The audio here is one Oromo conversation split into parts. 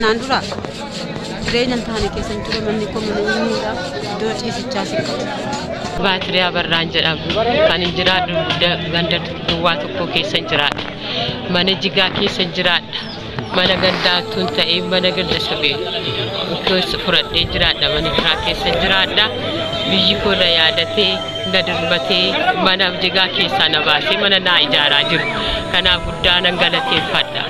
Naan dura jireenya hin taane keessa hin ture manni koo mana eenyuudha iddoo ciisichaa si qabu. Baatirii Abarraan jedhamu kan hin jiraadhu ganda duwwaa tokko keessa hin jiraadha. Mana jigaa keessa hin jiraadha. Mana gandaa utuu hin ta'in mana ganda sabee utuu isa fudhadhee jiraadha mana biraa keessa hin jiraadha. Biyyi koo na yaadatee na dirmatee mana jigaa keessaa na baasee mana naa ijaaraa jiru. Kanaaf guddaa nan galateeffadha.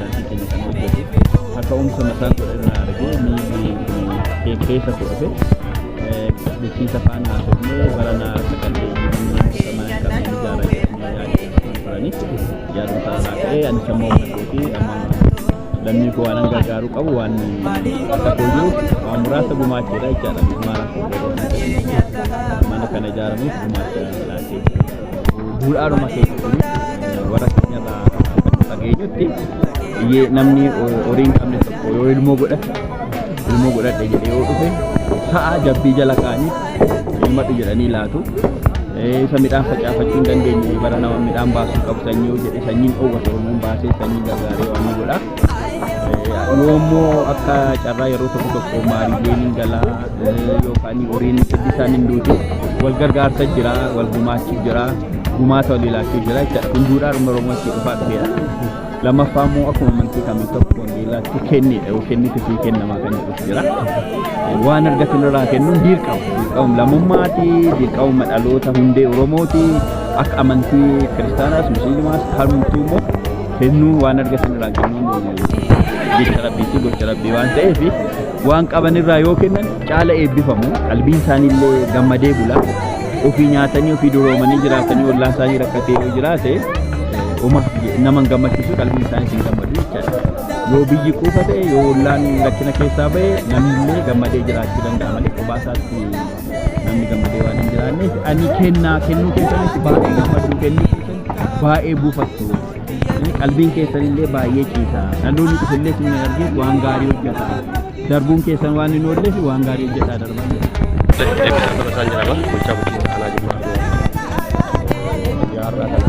Harki keenya kan hojjetu akka uumsa mataan godhe irraa argee miilli beekkeessa koo dhufe bulchiinsa faana haasofnee barana akka qalleeyyii manneen murtamaa hin qabne ijaara jedhanii yaadeffatan turanii yaaduma sana irraa ka'ee anis amma humna kootii amma lammii koo waanan gargaaruu qabu waan akka kooyyuu waan muraasa gumaacheedha jechaadha. Mana kana ijaaramuuf gumaacha laatee. Duudhaadhuma keessatti warra keenyarraa kan dhageenyutti iyyee namni horii hin qabne tokko yoo ilmoo godhate ilmoo godhadhe jedhee yoo dhufe sa'a jabbii jala kaa'anii ilmadhu jedhanii laatu. Isa midhaan facaafachuu hin dandeenye bara nama midhaan baasuu qabu sanyii yoo jedhe sanyiin dhoowwata oromoon baasee sanyii gargaaree waan ni godha. yoommoo akka carraa yeroo tokko tokko maariileen hin galaa yookaan horiin isaan hin duutu wal gargaarsa jira wal gumaachuu jira gumaata wal ilaachuu jira jechuudha kun duudhaa dhuma oromoo itti dhufaa dhufeera lammaffaa immoo akkuma amantii kamii tokko wangeelaatti kennidha yoo kennite sii kennamaa kan jedhus jira waan argatan irraa kennuun dirqama dirqama lammummaati dirqama dhaloota hundee oromooti akka amantii kiristaanaas musliimaas kamtuu immoo Kennuu waan argatan irraa kennuun jecha rabbii fi gocha rabbii waan ta'eef waan qaban irraa yoo kennan caala eebbifamu qalbiin isaanii illee gammadee bula ofii nyaatanii ofii duroomanii jiraatanii ollaa isaanii rakkatee yoo jiraate uma naman gammachiisu qalbiin isaanii isin gammadu jechaadha yoo biyyi quufa ta'e yoo ollaan rakkina keessaa ba'e namni illee gammadee jiraachuu danda'a malee kophaa isaatti namni gammadee waan hin jiraanneef ani kennaa kennuu keessanitti baay'ee gammaddu kennuu keessan baay'ee buufattu Eh, qalbiin keessan illee baay'ee ciisa dhaloonni dhufillee isin argee waan gaarii hojjeta darbuun keessan waan hin oolleef waan gaarii hojjetaa darban Eebbisaa Tamasaan jedhama. Bulchaa bulchiinsa aanaa Jimmaa Aduwaa. Guyyaa har'aa kana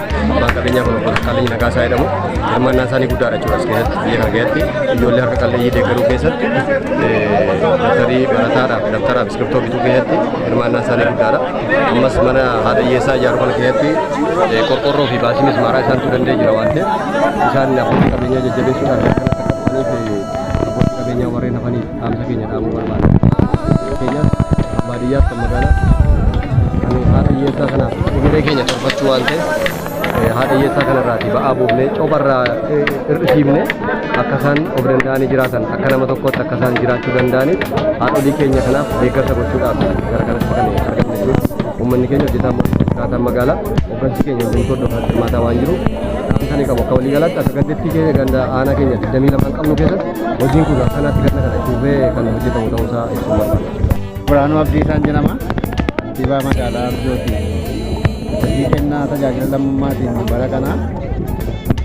Abbaan qabeenyaa kun obbo Dassaaleny Nagaasaa jedhamu hirmaannaan isaanii guddaadha jechuudha as keessatti biyya kana keessatti ijoollee harka qalleeyyii deeggaruu keessatti dabtarii barataadhaaf dabtaraaf iskirtoo bituu keessatti hirmaannaan isaanii guddaadha. Ammas mana haadhayyeessaa ijaaruu kana keessatti qorqorroo fi baasii mismaaraa isaantu danda'e jira waan ta'eef isaan abbootii qabeenyaa jajjabeessuudhaan kan akka qabaniif abbootii qabeenyaa warreen hafaniif dhaamsa keenya dhaamuu barbaada. Fakkeenyaaf kan baadiyyaaf kan magaalaa kan haadha hiyyeessaa kanaaf egeree keenya torbachuu waan ta'eef eh, haadha hiyyeessaa kanarraati ba'aa buufnee cobarraa eh, hir'isiifne akka isaan of danda'anii jiraatan akka nama tokkotti akka isaan jiraachuu danda'aniif haadholii keenya kanaaf deeggarsa gochuudhaaf gara kanatti kan argamne jechuudha. Uummanni keenya hojjetaan mootummaa jiraataan magaalaa hooggansi keenya hundumtuu hordofaa hirmaataa waan jiruuf dhaamsa ni qabu akka waliigalaatti akka gandittii keenya ganda aanaa keenya 22 qabnu keessatti Hojiin kun akkanatti ganna kana itti fufee kan hojjetamu ta'uu isaa ibsuu barbaada. Biraanuu Abdiisaan jedhama. Kantiibaa magaalaa Arjooti. Hojii kennaa tajaajila lammummaatiin bara kana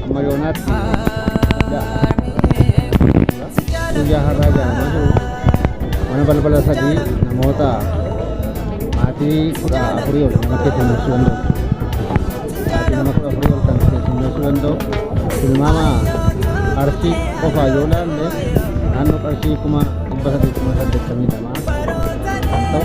amma yoonaatti guyyaa har'aa ijaaramaa jiru. Mana balbala sadii namoota maatii kudha afurii ol namatti itti mul'isuu danda'u. sa'aatii nama kudha afurii ol kan keessummeessuu danda'u tilmaama arsii qofaa yoo ilaalle naannoo qarshii kuma dhibba saddeettama saddeettamii lamaa kan ta'u